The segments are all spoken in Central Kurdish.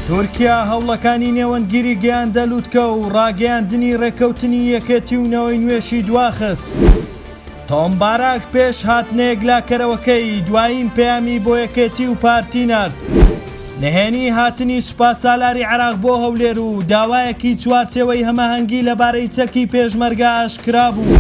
تورکیا هەوڵەکانی نێوەندگیری گەیاندە لوتکە و ڕاگەیاندنی ڕێکەوتنی یەکێتی و نەوەی نوێشی دواخست. تۆم باراک پێش هاتنە یەکلاکەرەوەکەی دوایین پەیامی بۆ یەکێتی و پارتی نارد. نهێنی هاتنی سوپاسالاری عێراق بۆ هەولێر و داوایەکی چوارچێوەی هەماهەنگی لەبارەی چەکی پێشمەرگە ئاشکرا بوو.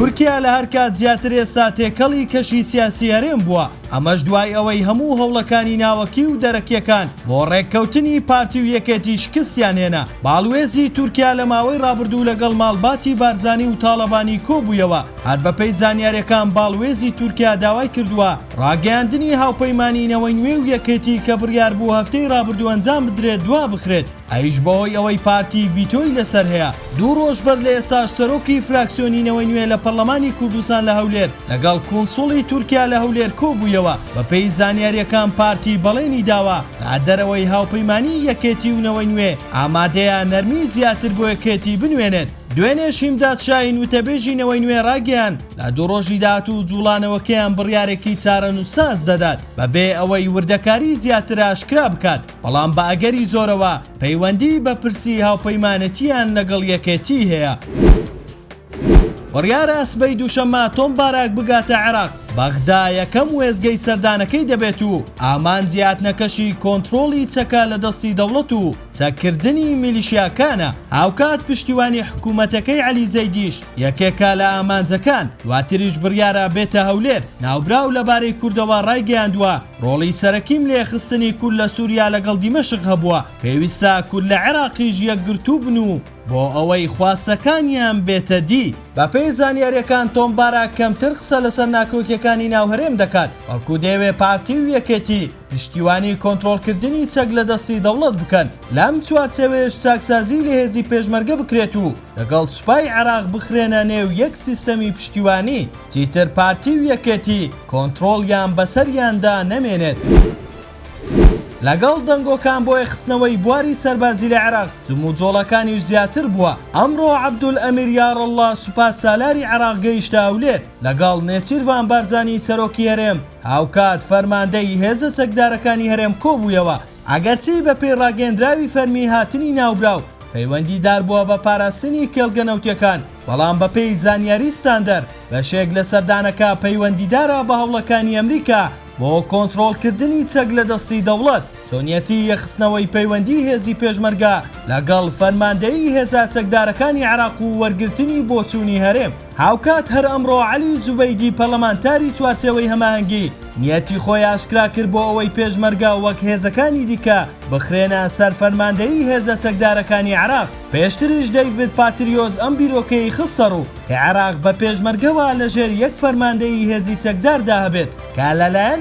تورکیا لە هەر کات زیاتر ئێستا تێکەڵی کەشی سیاسی هەرێم بووە، ئەمەش دوای ئەوەی هەموو هەوڵەکانی ناوەکی و دەرەکیەکان بۆ ڕێککەوتنی پارتی و یەکێتی شکستیان هێنا. باڵوێزی تورکیا لە ماوەی ڕابردوو لەگەڵ ماڵباتی بارزانی و تاڵەبانی کۆبوویەوە، هەر بەپێی زانیاریەکان باڵوێزی تورکیا داوای کردووە ڕاگەیاندنی هاوپەیمانی نەوەی نوێ و یەکێتی کە بڕیاربوو هەفتەی ڕابردوو ئەنجام بدرێت دوابخرێت. ئەویش بەهۆی ئەوەی پارتی ڤیتۆی لەسەر هەیە، دوو رۆژ بەر لە ئێستاش سەرۆکی فراکسیۆنی نەوەی نوێ لە پەرلەمانی کوردستان لە هەولێر لەگەڵ کونسوڵی تورکیا لە هەولێر کۆبوویەوە، بەپێی زانیارییەکان پارتی بەڵێنی داوە لە دەرەوەی هاوپەیمانیی یەکێتی و نەوەی نوێ ئامادەیە نەرمیی زیاتر بۆ یەکێتی بنوێنێت. دوێنێش هیمداد شاهین وتەبێژی نەوەی نوێ راگەیاند، لە دوو رۆژی داهاتوو جوڵانەوەکەیان بڕیارێکی چارەنووسساز دەدات، بەبێ ئەوەی وردەکاریی زیاتر ئاشکرا بکات. بەڵام بە ئەگەری زۆرەوە پەیوەندیی بە پرسی هاوپەیمانێتییان لەگەڵ یەکێتیی هەیە. بڕیارە سبەی دووشەممە تۆم باراک بگاتە عێراق بەغدا یەکەم وێزگەی سەردانەکەی دەبێت و ئامان زیاتنەکەشی کۆنتترۆڵی چەکە لە دەستی دەوڵەت و چەککردنی میلیشیاکانە هاوکات پشتیوانی حکوومەتەکەی علی زەیدیش یەکێکە لە ئامانجەکان، دواتریش بڕیارە بێتە هەولێر، ناوبراو لەبارەی کوردەوە ڕایگەیاندووە، ڕۆڵی سەرەکیم لە یەخستنی کورد لە سووریا لەگەڵ دیمەشق هەبووە، پێویستە کورد لە عێراقیش یەکگرتوو بن و بۆ ئەوەی خواستەکانیان بێتە دی. بەپێی زانیارییەکان تۆم باراک کەمتر قسە لەسەر ناکۆکییەکانی ناو هەرێم دەکات، بەڵکو دەیەوێت پارتی و یەکێتی، پشتیوانی کۆنترۆڵکردنی چەک لە دەستی دەوڵەت بکەن، لەم چوارچێوەیەش چاکسازی لە هێزی پێشمەرگە بکرێت و لەگەڵ سوپای عێراق بخرێنە نێو یەک سیستەمی پشتیوانی، چیتر پارتی و یەکێتی کۆنترۆڵیان بەسەریاندا نەمێنێت. لەگەڵ دەنگۆکان بۆ یەخستنەوەی بواری سەربازی لە عێراق، جموجۆڵەکانیش زیاتر بووە، ئەمڕۆ عەبدولئەمیر یاڕەڵڵا سوپا سالاری عێراق گەیشتە هەولێر، لەگەڵ نێچیرڤان بارزانی سەرۆکی هەرێم، هاوکات فەرماندەیی هێزە چەکدارەکانی هەرێم کۆبوویەوە، ئەگەرچی بەپێی ڕاگەیەندراوی فەرمی هاتنی ناوبراو پەیوەندیدار بووە بە پاراستنی کێڵگە نەوتییەکان، بەڵام بەپێی زانیاری ستاندەر بەشێک لە سەردانەکە پەیوەندیدارە بە هەوڵەکانی ئەمریکا بۆ کۆنتڕۆڵکردنی چەک لە دەستی دەوڵەت. چۆنیەتی یەخستنەوەی پەیوەندی هێزی پێشمەرگە لەگەڵ فەرماندەیی هێزە چەکدارەکانی عێراق و وەرگرتنی بۆچوونی هەرێم. هاوکات هەر ئەمڕۆ عەلی زوبەیدی پەرلەمانتاری چوارچێوەی هەماهەنگی نیەتی خۆی ئاشکرا کرد بۆ ئەوەی پێشمەرگە وەک هێزەکانی دیکە بخرێنە سەر فەرماندەیی هێزە چەکدارەکانی عێراق، پێشتریش دەیڤد پاتریۆس ئەم بیرۆکەی خستەڕوو کە عێراق بە پێشمەرگەوە لەژێر یەک فەرماندەیی هێزی چەکداردا هەبێت کە لەلایەن